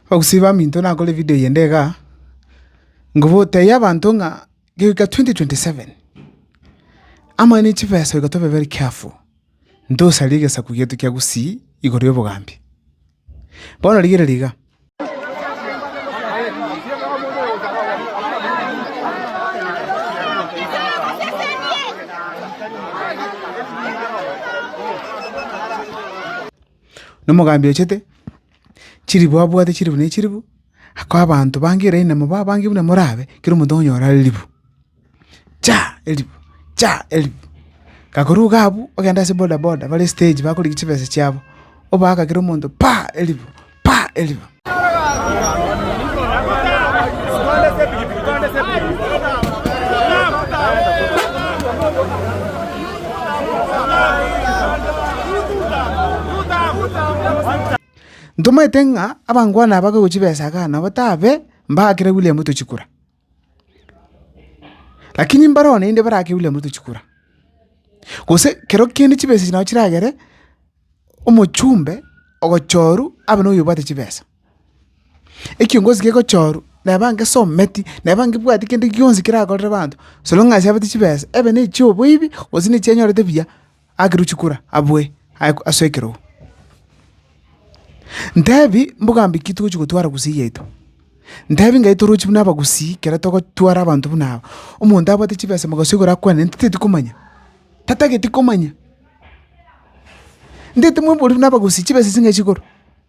Ogosiba baminto nakore video eyende iga, ngoboteie abanto ng'a goika twenty twenty seven, amang'ana ya chibesa goika tobe very careful, ntosaria egesaku giaito kia Gusii igoro y'obogambi. Bono rigereria iga. Na omogambi ochete chilifu abwate chilifu ne chilifu, akoa abanto bange eraini na moba abange buna morabe, kera omonto okonyora elifu, cha! elifu, cha! elifu. Kakoruga abwo, ogenda ase bodaboda bare stage bakorigia chibesa chiabo, obaaka kera omonto pa! elifu, pa! elifu. Ntomaete ng'a abangwana aba gochia chibesa iga nabo tabe mbaakire William tochikura. Lakini mbareo naende barake William Ruto chikura, gose kero kende chibesa echi nabo chiragere omochumbe ogochorwa abe noyo obwate chibesa. Ekiongozi kegochorwa neba ngesometi, neba ngebwati kende gionsi kerakorere abanto, so long as abete chibesa, ebe nechioboibi gose nechianyorete buya. akerwe chikura abwe aye ase ekerogo. Ntebi, Mbogambi ki togochia gotwara gusii yaito? Ntebi ngai toroche buna abagusii ekero togotwara abanto buna aba. Omonto abwate chibesa mogaso igoro akwanere ntiteti komanya, tatageti komanya. Ntete moborie buna abagusii chibesa echi ngai chigoro?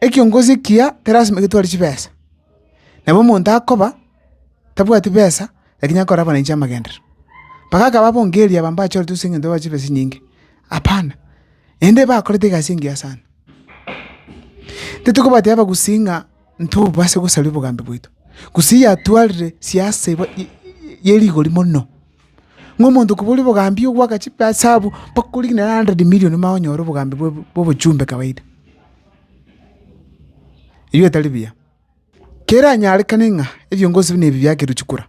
Ekiongosi ekiya tilasima getware chibesa, nabo omonto akoba tabwati besa lakini akore abana inche amagenderero. Mpaka akaba abongeri aba mbachorete ase eng'encho babaha chibesa chinyinge? Hapana, naende bakorete egasi engiya sana. Titikobateba abagusii ng'a ntobobase gosaria obogambi bwaito, gusii yatwarire siasa eba ye rigori mono. Ng'a omonto koboria obogambi ogoaka chisabu mpaka oria kinya hundred million omanye onyore obogambi bwa obochumbe kawaida. Erio etari buya. Keranyarekane ng'a ebio ngosibia nebi biakerwa chikura,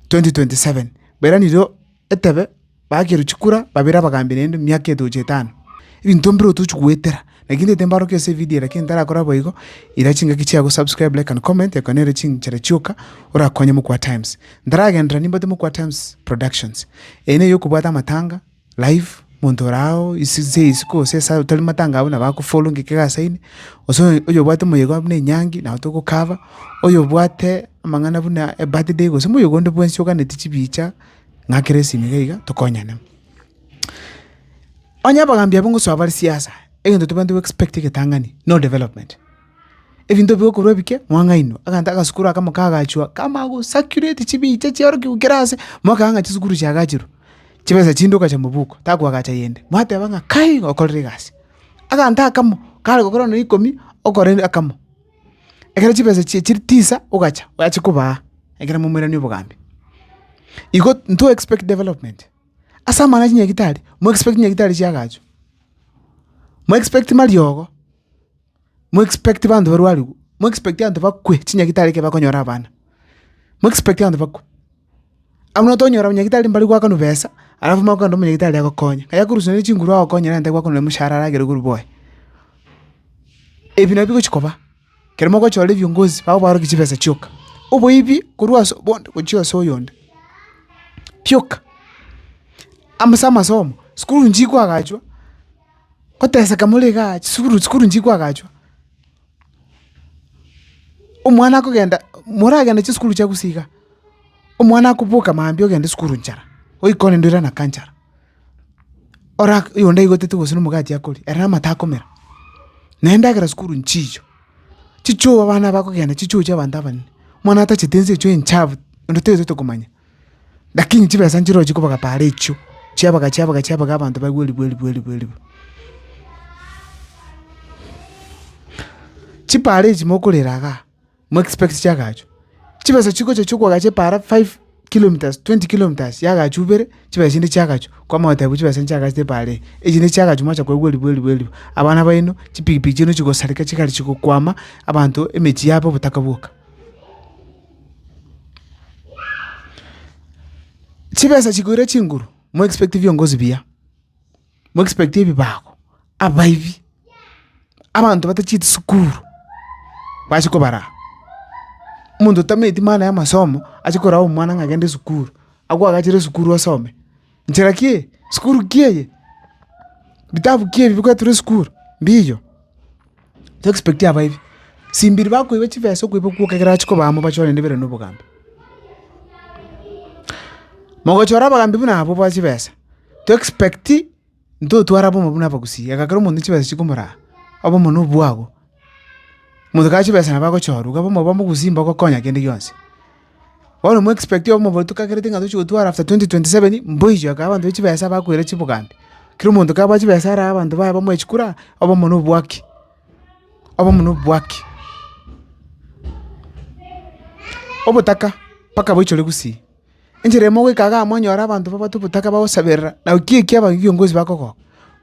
twenty twenty seven, bairanerio etebe bakerwa chikura babere abagambi naende miaka etoche etano. Ebinto mbire otochi goetera. Naki ntaete mbaorokia ase evidio eye, lakini ntarakora boigo, ira chingaki chiago, subscribe, like and comment, ekero nere chinchera chioka orakonye Mokwa Times. Ntaragenderera nimbwate Mokwa Times Productions. Eye neye okobwata amatanga, live, monto ore ao ase ase isiko gose ase otari matanga abwo nabo akofollow ng'ake egasaini, gose oyo oyo obwate moyega buna enyangi nabo togocover, oyo obwate amang'ana buna ebirthday gose moyega onde bwensi oganetie chibicha, ng'akere esimi iga iga, tokonyane. Onye abagaambi abwo ngosoa bare siasa, egento tobwenerete go expect egetang'ani, no development. Ebinto bigokorwa ebike, mwang'ainwa, egento agasukuru akamo kagachwa, kama gosacurate chibicha chiarokigwe kera ase, mwakanya ng'a chisukuru chiagachirwe, chibesa chinde ogacha mobuko, takoagacha yende, mwateba ng'a kai igo okorire egasi. Aganto akamo, kare gokora nonya ikomi, okore akamo. Ekero chibesa chie chiri tisa, ogacha, achikobaa, ekero momoiranie obogambi. Igo nto expect development. Ase amang'ana ya chinyagitari, mo expect chinyagitari chiagacho, mo expect mariogo, mo expect banto barwariwe, mo expect abanto bakwe chinyagitari ekero bakonyora abana, mo expect abanto bakwe. Abwo tonyora abanyagitari mbari goakanwa besa, alafu mare kogenda omonyagitari agokonye. Aye akorusia nere chinguru agokonye nere nabo akokonye nere omoshahara aragere korwa boye. Ebi nabio bigochi koba. ekero mogochora ebiongozi babo barokie chibesa chioka, oboibi korwa ase bonde gochia ase oyonde, bioka. Amo ase amasomo, sukuru inche nkoagachwa, goteseka more igaa chisukuru sukuru inche nkoagachwa, omwana akogenda moragenda chisukuru chia gusii igaa, omwana akoboka mambia ogende sukuru nchara, oikone ndwe rana nka nchara. ora oyonde aigotete gose na omogati akoria, ere amato akomera, na endagera sukuru nchicho, chichoo abana bakogenda chichoo chia abanto abanene, omwana atachete ense echio enchafu onde toigetote komanya, lakini chibesa nchirochio chikobaga paara echio, chiabaga chiabaga chiabaga abanto baigwe eribu eribu eribu eribu. Chipaara echi mokorera igaa. mo expect chiagachu, chibesa chigocha chi'okoagacha epaara five kilometres, twenty kilometres yagachu ibere, chibesa chinde chiagachu, kwamanya goteba buna chibesa nchiagachete epaara eye, echi nde chiagachu mwacha koigwa eribu eribu eribu, abana baino chipikipiki chiaino chigosareka chigari chigokwama, abanto emechie yaba obotaka bwoka. Chibesa chigoira chinguru, mo expect biongozi buya. mo expect ebibago, abaibi, abanto bate chisukuru bachia kobara aa. Omonto otameti maana ya amasomo achia koraa omwana ng'a genda esukuru, agwo agachere esukuru asome. Nchera ki eye? Sukuru ki eye? Bitabu ki ebi bigoetera esukuru? Mbiiyo. To expect abaibi, simbiri bakoiba chibesa okoiba okwo ekero achia kobaa amo bachore naende bere na obogambi. Mogochora abagambi buna abwo ba chibesa, to expect ntotware abamo buna abagusii, ega kera omonto chibesa chikomoraa, obomo na obwago. Omonto kare chibesa nabo agochorwa, iga bono oba omogusii mbogokonya kende gionsi. Bono omo expect obe omobaro tokagereti ng'a tochi gotwara after twenty twenty seven, mboichi ake abanto ba chibesa bakoire chiboganda. Kera omonto kabua chibesa arae abanto baye bamoe chikura, obe omonwa obwaki, obe omonwa obwaki. Obotaka, mpaka boichore gusii. Enchera emo ogoika igaa mwanyora abanto babwate obotaka bagosaberera, naki ekiaba ekio kiongozi bakogoka.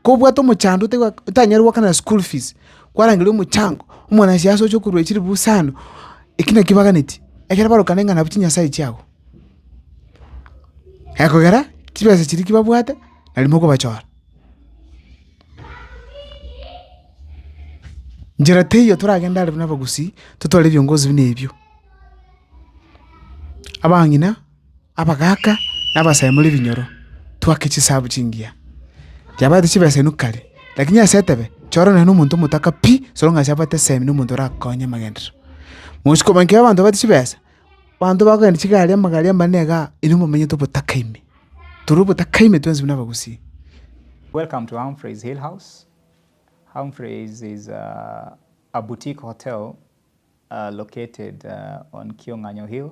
Kobwate omochando ote otanyare goakanera school fees, kwarangeria omochango, omwanasiasa oche okorwa echilifu isano, eki naki baganeti, ekero barokane ng'a nabo chinyasae chiabo. Ekogera chibesa chiria ki babwate nari mokobachora. Njera teiyo toragende are buna abagusii, totware ebiongozi buna ebio. Abang'ina. abagaaka na abasaimori ebinyoro, twake chisahabu chingiya. Chiabaete chibesa inwe kare, lakini ase etebe chora nonye na omonto omotaka pi, soro ng'a ase abwate esemi na omonto orakonye amagenderero. Mogochia komanya ekero abanto babwate chibesa, abanto bakogenda chigari amagari amanene iga, inwe momenyete obotaka ime, tore obotaka ime twensi buna abagusii. Welcome to Humphrey's Hill House. Humphrey's is a boutique hotel located on Kiong'anyo Hill.